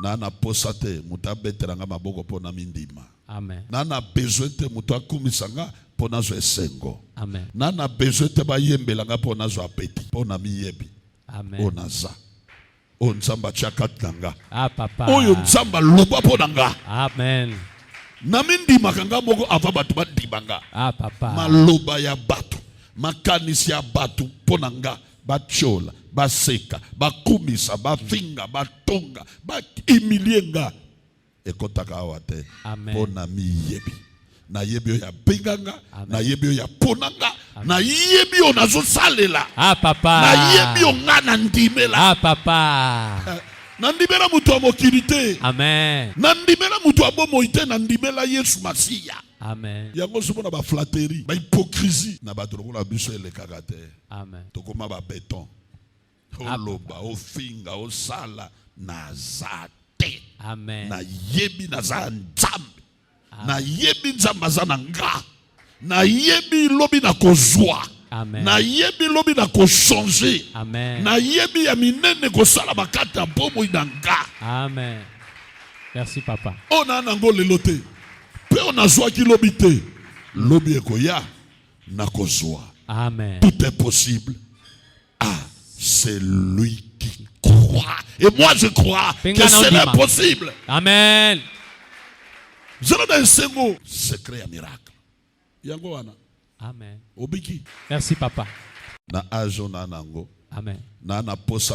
N'a na posa te moto abetela nga maboko mpo na mindima. Amen. N'a na besoin te moto akumisa nga mpo nazwa esengo. Amen. N'a na besoin te bayembela nga mpo nazwa apeti mpo na miyebi. Amen. Oyo naza oyo Nzambe atya kati na nga. Ah, papa. Oyo Nzambe aloba mpo na nga. Amen. Namindimaka nga moko avant bato bandima nga. Ah, papa. Maloba ya bato, makanisi ya bato mpo na nga batiola baseka bakumisa bafinga batonga baimilie nga ekotaka awa te mpo na miyebi nayebi oyo abenga nga nayebi oyo apona nga nayebi oyo nazosalela ah, nayebi oyo nga nandimela ah, papa eh, nandimela moto ya mokili te nandimela moto ya bomoi te nandimela yesu masiya yango soki na baflateri bahypokrisi na bato lokola biso elekaka te Amen. Tokoma ba beton. Oloba, ofinga, osala naza te. Amen. Nayebi naza Nzambe. Nayebi Nzambe aza na nga. Nayebi lobi na kozwa. Nayebi lobi na kochanger. Nayebi ya minene kosala bakati ya bomoi na nga. Amen. Merci papa. Ona nango lelo te. Pe onazwaki lobi te. Lobi ekoya. nakozwa. Amen. Tout est possible à celui qui croit. Et moi je crois que cela est possible. Amen. Zala na esengo secret ya miracle. Yango wana. Amen. Obiki. Merci papa. Na ajo na nango. Amen. Na na posa